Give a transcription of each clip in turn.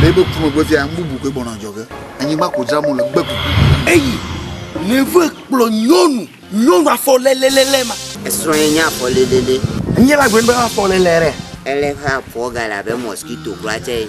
Bible ku megbe fia nu bubu koe bɔnɔ adzɔge. Anyigba ko dzram wole gbe kuku. Eyi neve kplɔ nyɔnu nyɔnu afɔlelelele ma. Esrɔ̃ ye nye afɔlelele. Nye la gblɔ be afɔlele ɖe. Ele ƒe afɔ gale abe mɔskito kura tse.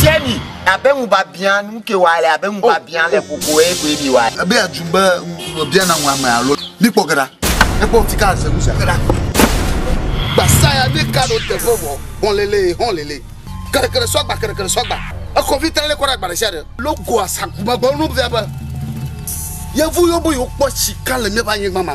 Tieni abe ŋubiabiã nu ke wa le abe ŋubiabiã le koko e koe mi wa. Ebe aju be ŋubia na ŋu ame alo mi kpɔ gera. Ekpɔ tika se nu se gera. Gbasaya ne ka ɖo te vɔ vɔ hɔn lele hɔn lele. Kere kere sɔ gba kere kere sɔ gba. Ekɔ vi tele kɔ ɖe agba ɖe sia ɖe. Logo asagu magbawo nu via be. Yevu yo bo yo kpɔ sika le mia ba nyigba ma.